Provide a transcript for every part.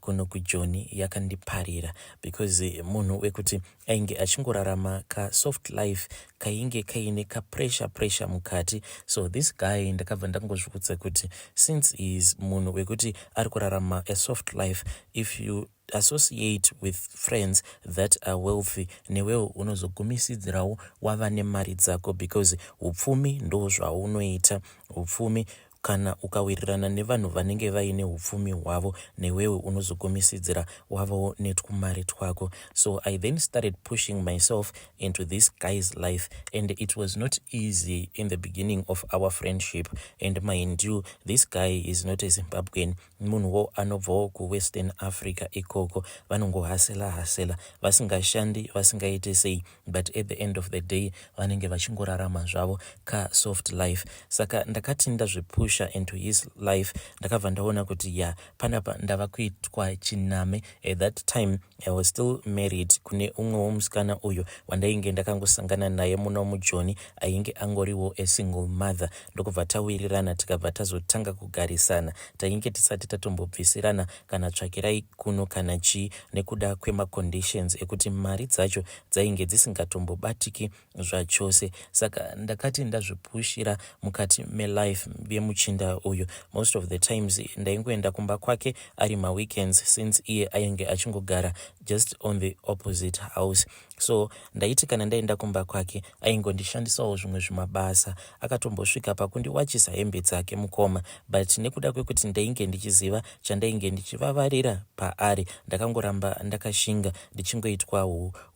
kuno kujoni yakandiparira because munhu wekuti ainge achingorarama kasoft life kainge kaine kapressure pressure mukati so this guy ndakabva ndangozvikudza kuti since he is munhu wekuti ari kurarama asoft life if you associate with friends that are wealthy newewo unozogumisidzirawo wava nemari dzako because upfumi ndo zvaunoita upfumi Kana ukawirirana nevanhu vanenge vaine upfumi hwavo newewe unozogumisidzira wavawo netwumari twako. So I then started pushing myself into this guy's life and it was not easy in the beginning of our friendship and mind you this guy is not a Zimbabwean munhuwo anobvawo kuWestern Africa ikoko vanongohasela hasela vasingashandi vasingaite sei but at the end of the day vanenge vachingorarama zvavo ka soft life saka ndakati ndazvipusha into his life ndakabva ndaona kuti ya panapa ndava kuitwa chiname at that time i was still married kune umwe womusikana uyo wandainge ndakangosangana naye muno mujoni ainge angoriwo a single mother ndokubva tawirirana tikabva tazotanga kugarisana tainge tisati tatombobvisirana kana tsvakirai kuno kana chii nekuda kwemaconditions ekuti mari dzacho dzainge dzisingatombobatiki zvachose saka ndakati ndazvipushira mukati melife yemuchinda uyu most of the times ndaingoenda kumba kwake ari maweekends since iye ainge achingogara just on the opposite house so ndaiti kana ndaenda kumba kwake aingondishandisawo zvimwe zvimabasa akatombosvika pakundiwachisa hembe dzake mukoma but nekuda kwekuti ndainge ndichiziva chandainge ndichivavarira paari ndakangoramba ndakashinga ndichingoitwa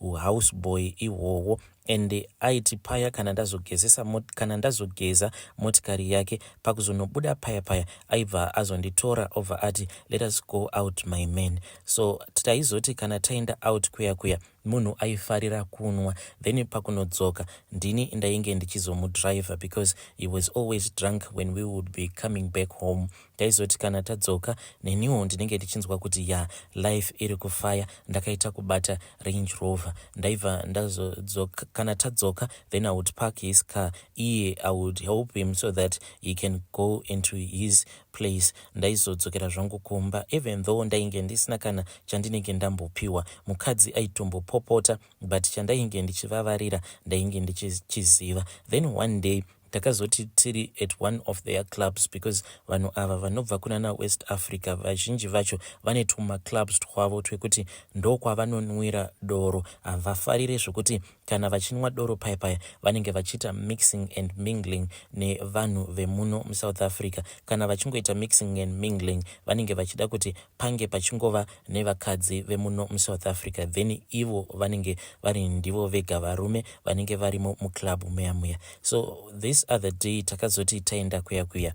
uhouse boy ihwohwo and aiti paya kana ndazogezesa kana ndazogeza motikari yake pakuzonobuda paya paya aibva azonditora obva ati let us go out my man so taizoti kana taenda out kuya kuya munhu aifarira kunwa then pakunodzoka ndini ndainge ndichizomudriver because he was always drunk when we would be coming back home taizoti kana tadzoka neniwo ndinenge ndichinzwa kuti ya life iri kufaya ndakaita kubata range rover ndaibva ndazodzoka kana tadzoka then i would park his car iye i would help him so that he can go into his place ndaizodzokera zvangu kumba even though ndainge ndisina kana chandinenge ndambopiwa mukadzi aitombopopota but chandainge ndichivavarira ndainge ndichichiziva then one day takazoti tiri at one of their clubs because vanhu ava vanobva kunana west africa vazhinji vacho vane tumaclubs twavo twekuti ndokwavanonwira doro havafarire zvokuti Kana vachinwa doro paya paya vanenge vachiita mixing and mingling nevanhu vemuno muSouth Africa. Kana vachingoita mixing and mingling vanenge vachida kuti pange pachingova nevakadzi vemuno muSouth Africa then ivo vanenge vari ndivo vega varume vanenge varimo muclub muya muya. So this other day takazoti taenda kuya kuya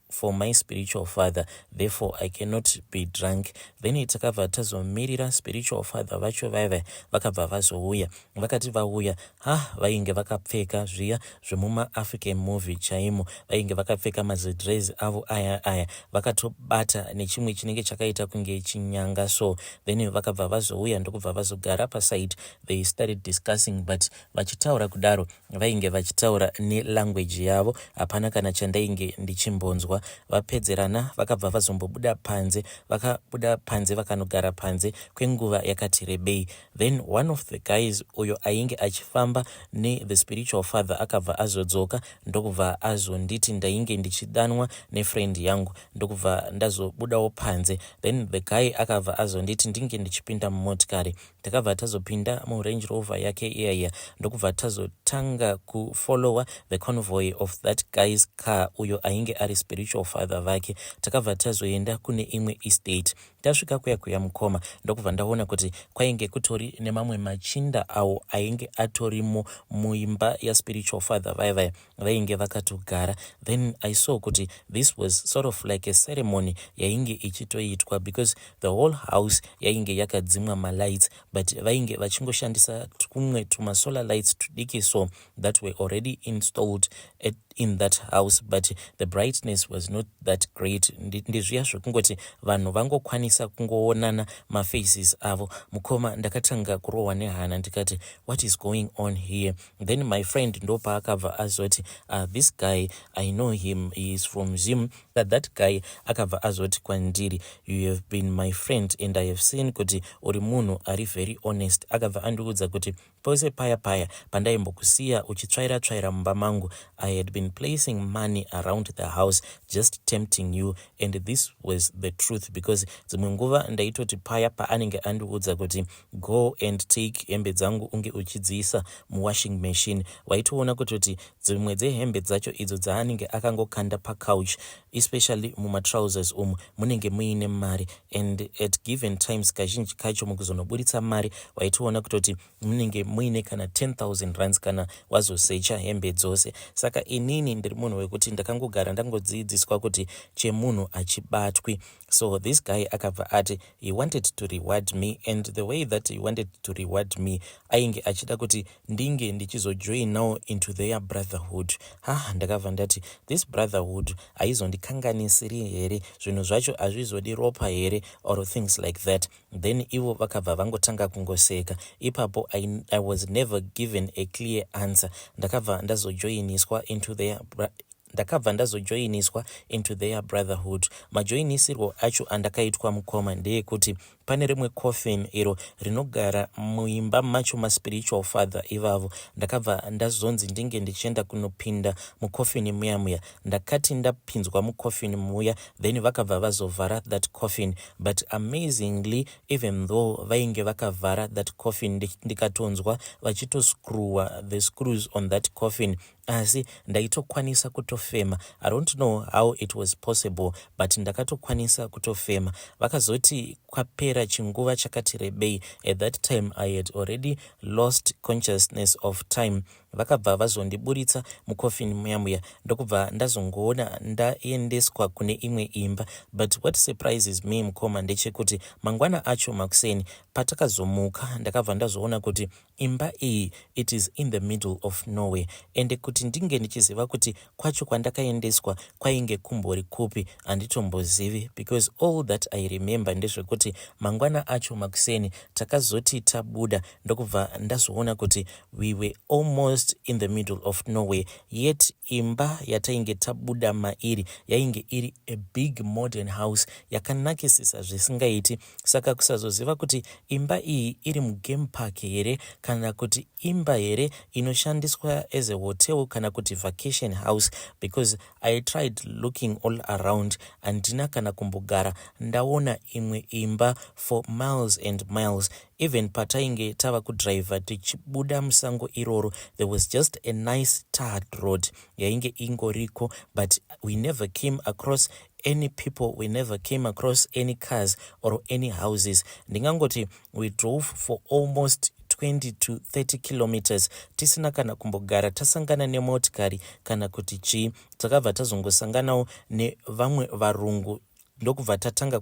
for my spiritual father therefore i cannot be drunk then takabva tazomirira spiritual father vacho vaive vakabva vazouya vakati vauya ha vainge vakapfeka zviya zvemumaafrican movie chaimo vainge vakapfeka mazidres avo aya aya vakatobata nechimwe chinenge chakaita kunge chinyanga so then vakabva vazouya ndokubva vazogara paside they started discussing but Vachitaura kudaro vainge vachitaura nelanguage yavo hapana kana chandainge ndichimbonzwa. Vapedzerana vakabva vazombobuda panze vakabuda panze vakanogara panze kwenguva yakati rebei then one of the guys uyo ainge achifamba nethe spiritual father akabva azodzoka ndokubva azonditi ndainge ndichidanwa nefriend yangu ndokubva ndazobudawo panze then the guy akabva azonditi ndinge ndichipinda mumotikari takabva tazopinda murange rover yake iyaiya ndokubva tazotanga kufollowa the convoy of that guy's car uyo ainge ari spiritual father vake takabva tazoenda kune imwe estate tasvika kuya kuya mukoma ndokubva ndaona kuti kwainge kutori nemamwe machinda awo ainge atorimo muimba yaspiritual father vaya vaya vainge vakatogara then i saw kuti this was sort of like a ceremony yainge ichitoitwa because the whole house yainge yakadzimwa malights but vainge vachingoshandisa twumwe tumasolar lights tudiki so that were already installed at, in that house but the brightness was not that great ndezviya zvekungoti vanhu vangokwanisa kungoonana mafaces avo mukoma ndakatanga kurohwa nehana ndikati what is going on here then my friend ndopaakabva azoti uh, this guy i know him he is from zim but that guy akabva azoti kwandiri you have been my friend and i have seen kuti uri munhu ari very honest akabva andiudza kuti pose paya paya pandaimbokusiya uchitsvaira tsvaira mumba mangu i had been placing money around the house just tempting you and this was the truth because dzimwe nguva ndaitoti paya paanenge andiudza kuti Go and take hembe dzangu unge uchidziisa muwashing machine. Waitoona kutoti dzimwe dzehembe dzacho idzo dzaanenge akangokanda pacouch especially mumatrousers umu munenge muine mari and at given times kazhinji kacho mukuzonoburitsa mari waitoona kutoti munenge muine kana 10000 rands kana wazosecha hembe dzose. Saka inini ndiri munhu wekuti ndakangogara ndangodziidziswa kuti chemunhu hachibatwi. so this guy akabva ati he wanted to reward me and the way that he wanted to reward me ainge achida kuti ndinge ndichizojoinawo into their brotherhood ha ah, ndakabva ndati this brotherhood haizondikanganisiri here zvinhu zvacho hazvizodi ropa here or things like that then ivo vakabva vangotanga kungoseka ipapo I, i was never given a clear answer ndakabva ndazojoiniswa into their ndakabva ndazojoiniswa into their brotherhood majoinisirwo acho andakaitwa mukoma ndeekuti pane rimwe coffin iro rinogara muimba macho maspiritual father ivavo ndakabva ndazonzi ndinge ndichienda kunopinda mucoffin muya muya ndakati ndapinzwa mucoffin muya then vakabva vazovhara that coffin but amazingly even though vainge vakavhara that coffin ndikatonzwa vachitoscrewa the screws on that coffin Asi ndaitokwanisa kutofema. I don't know how it was possible but ndakatokwanisa kutofema. Vakazoti kwapera chinguva chakati rebei, at that time I had already lost consciousness of time, vakabva vazondiburitsa mucoffin muya muya ndokubva ndazongoona ndaendeswa kune imwe imba. But what surprises me mukoma ndechekuti mangwana acho makuseni patakazomuka ndakabva ndazoona kuti Imba iyi it is in the middle of nowhere ende kuti ndinge ndichiziva kuti kwacho kwandakaendeswa kwainge kumbori kupi handitombozivi because all that I remember ndezvekuti mangwana acho makuseni takazoti tabuda ndokubva ndazoona kuti we were almost in the middle of nowhere yet imba yatainge tabuda mairi yainge iri a big modern house yakanakisisa zvisingaiti saka kusazoziva kuti imba iyi iri mugame park here kana kuti imba here inoshandiswa as a hotel kana kuti vacation house because i tried looking all around handina kana kumbogara ndaona imwe imba for miles and miles even patainge tava kudriver tichibuda musango iroro there was just a nice tard road yainge ingoriko but we never came across any people we never came across any cars or any houses ndingangoti we drove for almost 20 to 30 kilometers tisina kana kumbogara tasangana nemotikari kana kuti chii takabva tazongosanganawo nevamwe varungu ndokubva tatanga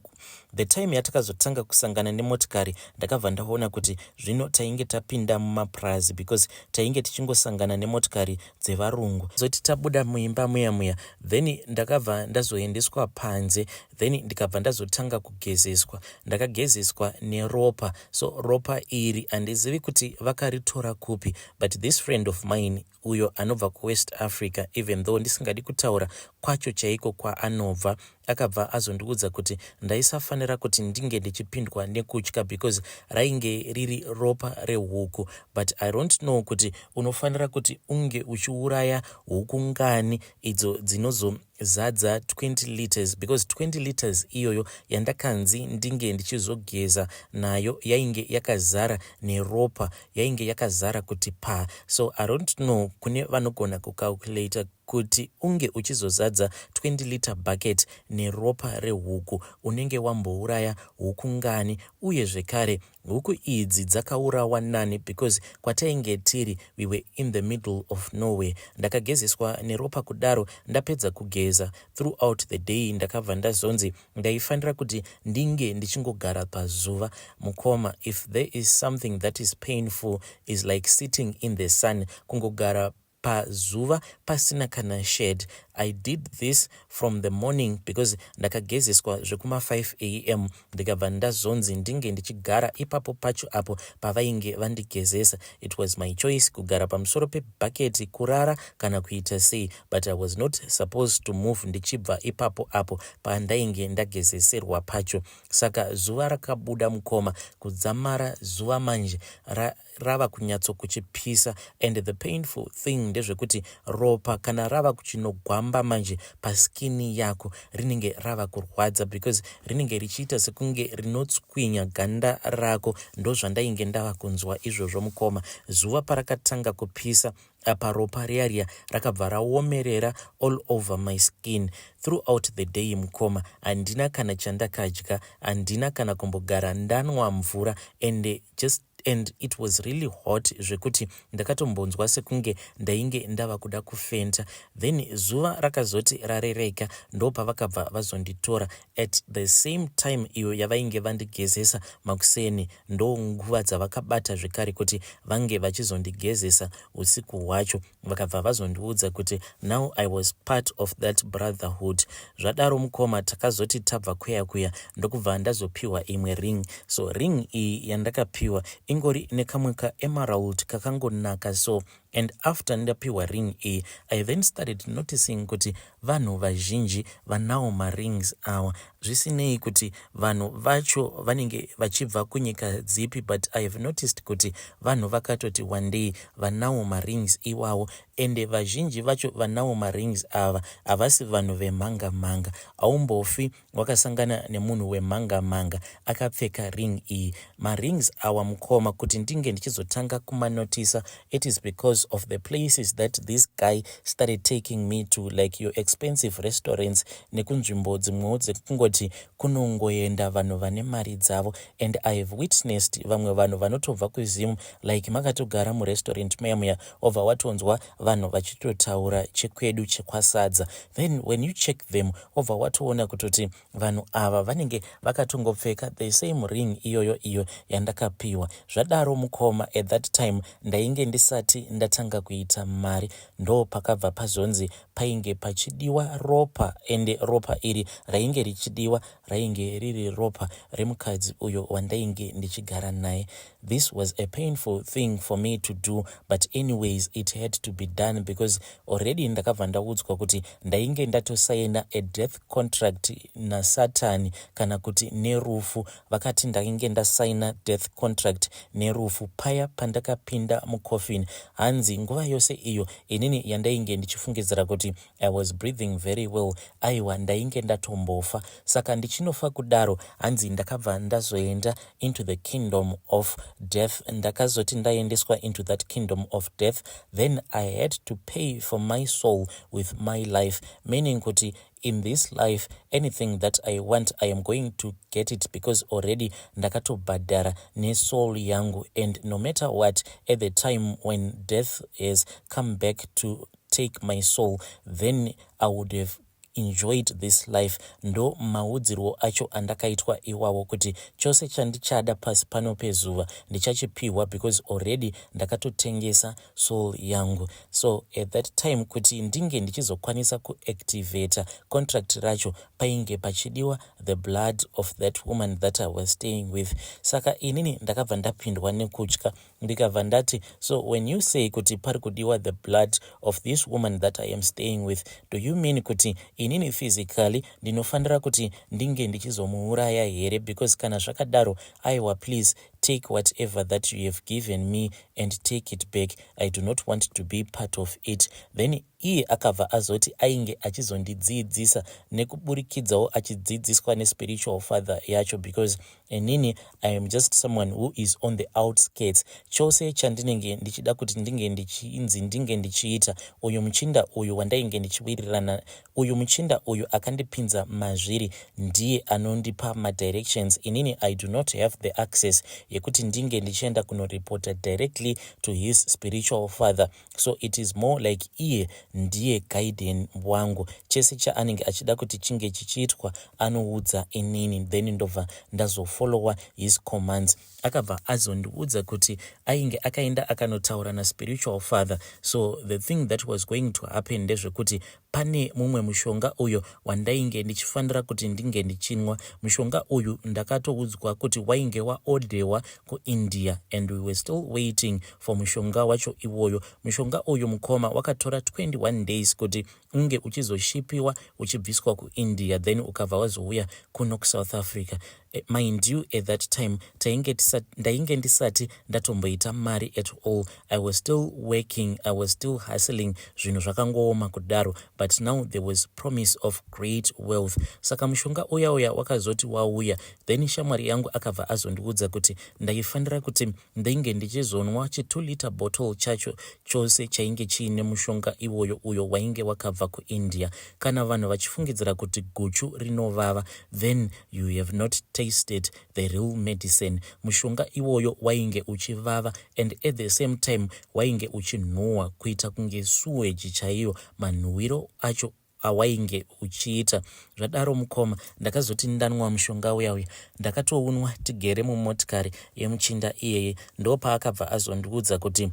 the time yatakazotanga kusangana nemotikari ndakabva ndaona kuti zvino tainge tapinda mumapurazi because tainge tichingosangana nemotikari dzevarungu zoti tabuda muimba muya muya then ndakabva ndazoendeswa panze then ndikabva ndazotanga kugezeswa ndakagezeswa neropa so ropa iri handizivi kuti vakaritora kupi but this friend of mine uyo anobva kuwest africa even though ndisingadi kutaura kwacho chaiko kwaanobva Akabva azondiudza kuti ndaisafanira kuti ndinge ndichipindwa nekutya because rainge riri ropa rehuku but I don't know kuti unofanira kuti unge uchiuraya huku ngani idzo dzinozo zadza 20 liters because 20 liters iyoyo yandakanzi ndinge ndichizogeza nayo yainge yakazara neropa yainge yakazara kuti pa so i don't know kune vanogona kucalculator Kuti unge uchizozadza 20 litre bucket neropa rehuku unenge wambouraya huku ngani uye zvekare huku idzi dzakaurawa nani because kwatainge tiri we were in the middle of nowhere. Ndakagezeswa neropa kudaro ndapedza kugeza throughout the day ndakabva ndazonzi ndaifanira kuti ndinge ndichingogara pazuva. Mukoma if there is something that is painful is like sitting in the sun kungogara pazuva pasina kana shade I did this from the morning because ndakagezeswa zvekuma 5 am ndikabva ndazonzi ndinge ndichigara ipapo pacho apo pavainge vandigezesa it was my choice kugara pamusoro pebhaketi kurara kana kuita sei but I was not supposed to move ndichibva ipapo apo pandainge ndagezeserwa pacho saka zuva rakabuda mukoma kudzamara zuva manje ra rava kunyatsokuchipisa and the painful thing ndezvekuti ropa kana rava kuchinogwamba manje paskini yako rinenge rava kurwadza because rinenge richiita sekunge rinotswinya ganda rako ndozvandainge ndava kunzwa izvozvo mukoma zuva parakatanga kupisa apa ropa riya riya rakabva raomerera all over my skin throughout the day mukoma handina kana chandakadya handina kana kumbogara ndanwa mvura and just and it was really hot zvekuti ndakatombonzwa sekunge ndainge ndava kuda kufenta then zuva rakazoti rarereka ndopavakabva vazonditora at the same time iyo yavainge vandigezesa makuseni ndonguva dzavakabata zvekare kuti vange vachizondigezesa usiku hwacho vakabva vazondiudza kuti now i was part of that brotherhood zvadaro mukoma takazoti tabva kweya kuya ndokubva ndazopiwa imwe ring so ring iyi yandakapiwa ingori nekamwe kaemerald kakangonaka so and after ndapiwa ring iyi i then started noticing kuti Vanhu vazhinji vanawo ma rings awa zvisinei kuti vanhu vacho vanenge vachibva kunyika dzipi but I have noticed kuti vanhu vakatoti wandei vanawo ma rings iwawo ende vazhinji vacho vanawo ma rings ava havasi vanhu vemhanga mhanga haumbofi wakasangana nemunhu wemhanga mhanga akapfeka ring iyi marings awa mukoma kuti ndinge ndichizotanga kumanotisa it is because of the places that this guy started taking me to like your expensive restaurants nekunzvimbo dzimwewo dzekungoti kunongoenda vanhu vane mari dzavo and i have witnessed vamwe vanhu vanotobva kuzim like makatogara murestaurant muya muya obva watonzwa vanhu vachitotaura chekwedu chekwasadza then when you check them obva watoona kutoti vanhu ava vanenge vakatongopfeka the same ring iyoyo iyo yandakapiwa zvadaro mukoma at that time ndainge ndisati ndatanga kuita mari ndo pakabva pazonzi painge pachidiwa ropa ende ropa iri rainge richidiwa rainge riri ropa remukadzi uyo wandainge ndichigara naye this was a painful thing for me to do but anyways it had to be done because already ndakabva ndaudzwa kuti ndainge ndatosaina a death contract nasatani kana kuti nerufu vakati ndainge ndasaina death contract nerufu paya pandakapinda mucoffin hanzi nguva yose iyo inini yandainge ndichifungidzira kuti I was breathing very well aiwa ndainge ndatombofa saka ndichinofa kudaro hanzi ndakabva ndazoenda into the kingdom of death ndakazoti ndaendeswa into that kingdom of death then i had to pay for my soul with my life meaning kuti in this life anything that i want i am going to get it because already ndakatobhadhara nesoul yangu and no matter what at the time when death has come back to take my soul then i would have enjoyed this life ndo maudzirwo acho andakaitwa iwawo kuti chose chandichada pasi pano pezuva ndichachipihwa because already ndakatotengesa soul yangu so at that time kuti ndinge ndichizokwanisa kuactivator contract racho painge pachidiwa the blood of that woman that i was staying with saka inini ndakabva ndapindwa nekutya ndikabva ndati so when you say kuti pari kudiwa the blood of this woman that i am staying with do you mean kuti inini physically ndinofanira kuti ndinge ndichizomuuraya here because kana zvakadaro aiwa please take whatever that you have given me and take it back i do not want to be part of it then Iye akabva azoti ainge achizondidziidzisa nekuburikidzawo achidziidziswa nespiritual father yacho because inini I am just someone who is on the outskirts. Chose chandinenge ndichida kuti ndinge ndichinzi ndinge ndichiita uyu muchinda uyu wandainge ndichiwirirana uyu muchinda uyu akandipinza mazviri ndiye anondipa madirections inini I do not have the access yekuti ndinge ndichienda kunoreporter directly to his spiritual father. so it is more like iye ndiye guiden wangu chese chaanenge achida kuti chinge chichiitwa anoudza inini then ndobva ndazofollowa his commands akabva azondiudza kuti ainge akaenda akanotaura naspiritual father so the thing that was going to happen ndezvekuti Pane mumwe mushonga uyo wandainge ndichifanira kuti ndinge ndichinwa. Mushonga uyu ndakatoudzwa kuti wainge waodhewa kuIndia and we were still waiting for mushonga wacho iwoyo. Mushonga uyu mukoma wakatora 21 days kuti unge uchizoshipiwa uchibviswa kuIndia then ukabva wazouya kuno kuSouth Africa. Eh, mind you at that time tainge ndainge ndisati ndatomboita mari at all i was still working i was still hustling zvinhu zvakangooma kudaro but now there was promise of great wealth saka mushonga uya uya wakazoti wauya then shamwari yangu akabva azondiudza kuti ndaifanira kuti ndainge ndichizonwa chitu liter bottle chacho chose chainge chiine mushonga iwoyo uyo wainge wakabva kuindia kana vanhu vachifungidzira kuti guchu rinovava then you have not tasted the real medicine mushonga iwoyo wainge uchivava and at the same time wainge uchinhuhwa kuita kunge suweji chaiyo manhuwiro acho awainge uchiita zvadaro mukoma ndakazoti ndanwa mushonga uya uya ndakatounwa tigere mumotikari yemuchinda iyeye ndopaakabva azondiudza kuti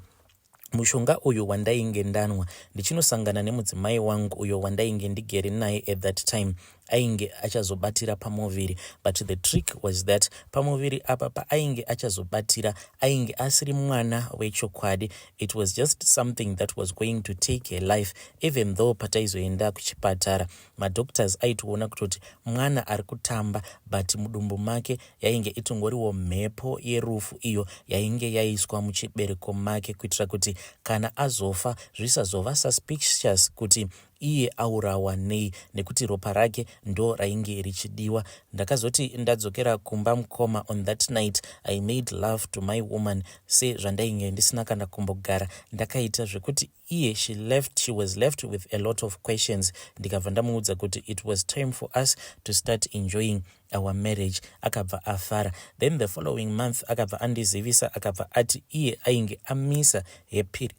mushonga uyu wandainge ndanwa ndichinosangana nemudzimai wangu uyo wandainge ndigere naye at that time ainge achazobatira pamuviri but the trick was that pamuviri apa paainge achazobatira ainge asiri mwana wechokwadi it was just something that was going to take her life even though pataizoenda kuchipatara madoctors aitoona kutoti mwana ari kutamba but mudumbu make yainge itongoriwo mhepo yerufu iyo yainge yaiswa muchibereko make kuitira kuti kana azofa zvisazova suspicious kuti iye aurawa nei nekuti ropa rake ndo rainge richidiwa. Ndakazoti ndadzokera kumba mkoma on that night I made love to my woman se zvandainge ndisina kana kumbogara ndakaita zvekuti iye she left she was left with a lot of questions ndikabva ndamuudza kuti it was time for us to start enjoying our marriage akabva afara then the following month akabva andizivisa akabva ati iye ainge amisa her period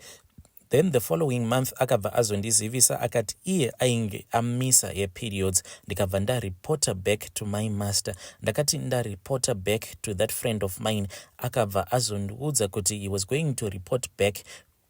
Then the following month akabva azondizivisa akati iye ainge amisa her periods ndikabva ndareporter back to my master. Ndakati ndareporter back to that friend of mine akabva azondiudza kuti he was going to report back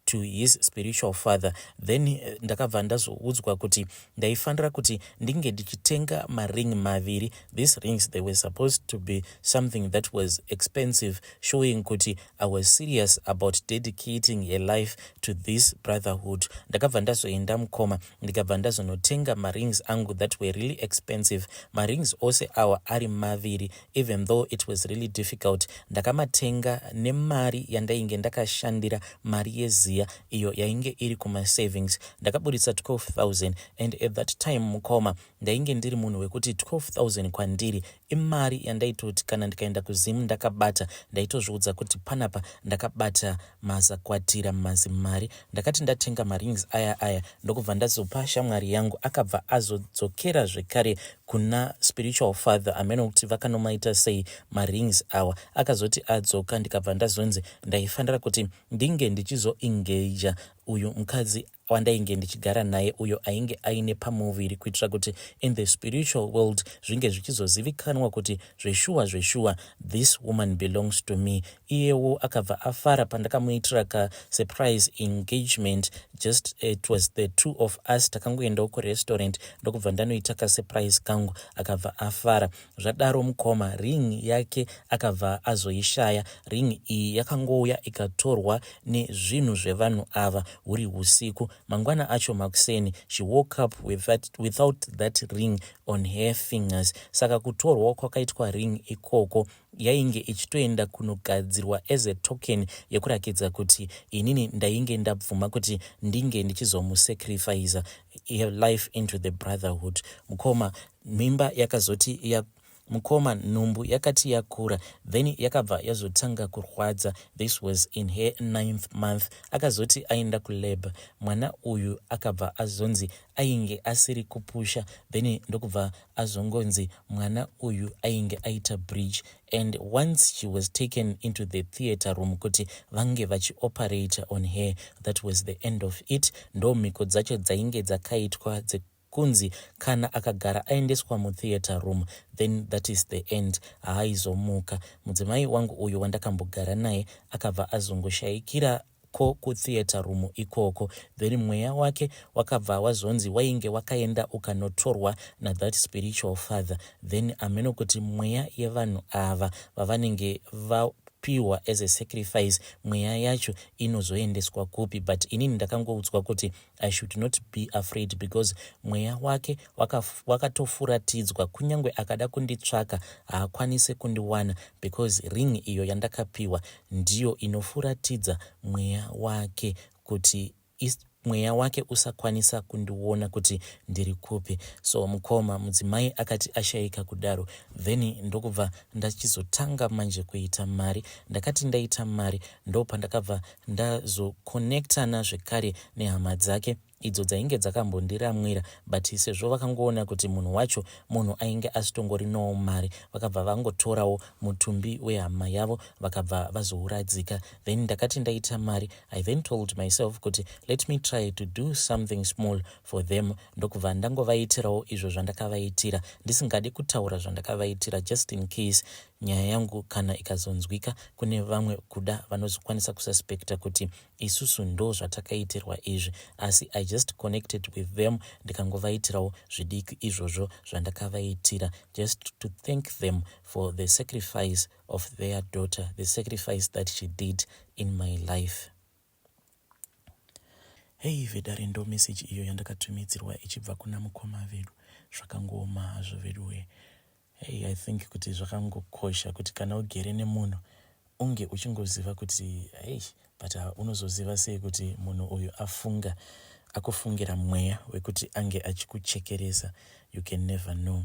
to his spiritual father then eh, ndakabva ndazoudzwa kuti ndaifanira kuti ndinge ndichitenga maring maviri these rings they were supposed to be something that was expensive showing kuti I was serious about dedicating a life to this brotherhood. Ndakabva ndazoenda mukoma ndikabva ndazonotenga marings angu that were really expensive. Marings ose awa ari maviri even though it was really difficult. Ndakamatenga nemari yandainge ndakashandira mari yeziya iyo yainge iri kumasavings. Ndakaburitsa 12,000 and at that time mukoma ndainge ndiri munhu wekuti 12000 kwandiri imari yandaitoti kana ndikaenda kuzimu ndakabata ndaitozviudza kuti panapa ndakabata mazakwatira mazimari ndakati ndatenga marings aya aya ndokubva ndazopa shamwari yangu akabva azodzokera zvekare kuna spiritual father amene kuti vakanomaita sei marings awa akazoti adzoka ndikabva ndazonzi ndaifanira kuti ndinge ndichizoengaja uyu mukadzi wandainge ndichigara naye uyo ainge aine pamuviri kuitira kuti in the spiritual world zvinge zvichizozivikanwa kuti zveshuwa zveshuwa this woman belongs to me iyewo akabva afara pandakamuitira ka surprise engagement just eh, it was the two of us takangoendawo kurestaurant ndokubva ndanoita ka surprise kangu akabva afara Zvadaro mukoma ring yake akabva azoishaya. Ring iyi yakangouya ikatorwa nezvinhu zvevanhu ava huri husiku. Mangwana acho makuseni she woke up with that, without that ring on her fingers. Saka kutorwa kwakaitwa ring ikoko yainge ichitoenda kunogadzirwa as a token yekurakidza kuti inini ndainge ndabvuma kuti ndinge ndichizomusacrifiza life into the brotherhood mukoma mimba yakazoti ya mukoma nhumbu yakati yakura then yakabva yazotanga kurwadza this was in her ninth month akazoti aenda kulab mwana uyu akabva azonzi ainge asiri kupusha then ndokubva azongonzi mwana uyu ainge aita bridge and once she was taken into the theatre room kuti vange vachioperate on her that was the end of it ndo mhiko dzacho dzainge dzakaitwa Kunzi kana akagara aendeswa mu theatre room then that is the end haaizomuka. Mudzimai wangu uyu wandakambogara naye akabva azongoshaikira ko ku theatre room ikoko then mweya wake wakabva wazonzi wainge wakaenda ukanotorwa na that spiritual father then ameno kuti mweya yevanhu ava vavanenge va pihwa as a sacrifice mweya yacho inozoendeswa kupi but inini ndakangoudzwa kuti I should not be afraid because mweya wake wakatofuratidzwa waka kunyange akada kunditsvaka haakwanise kundiwana because ring iyo yandakapiwa ndiyo inofuratidza mweya wake kuti mweya wake usakwanisa kundiona kuti ndiri kupi so mukoma mudzimai akati ashaika kudaro then ndokubva ndachizotanga manje kuita mari ndakati ndaita mari ndopandakabva ndazoconnectana zvekare nehama dzake idzo dzainge dzakambondiramwira but sezvo vakangoona kuti munhu wacho munhu ainge asitongorinawo mari vakabva vangotorawo mutumbi wehama yavo vakabva vazouradzika then ndakati ndaita mari i then told myself kuti let me try to do something small for them ndokubva ndangovaitirawo izvo zvandakavaitira ndisingadi kutaura zvandakavaitira just in case Nyaya yangu kana ikazonzwika kune vamwe kuda vanozokwanisa kususpecta kuti isusu ndo zvatakaitirwa izvi asi I just connected with them ndikangovaitirawo zvidiki izvozvo zvandakavaitira just to thank them for the sacrifice of their daughter, the sacrifice that she did in my life. Hey vedare ndo message iyo yandakatumidzirwa ichibva kuna mukoma vedu zvakangooma hazvo veduwe hey i think kuti zvakangokosha kuti kana ugere nemunhu unge uchingoziva kuti hey but uh, unozoziva sei kuti munhu uyu afunga akufungira mweya wekuti ange achikuchekeresa you can never know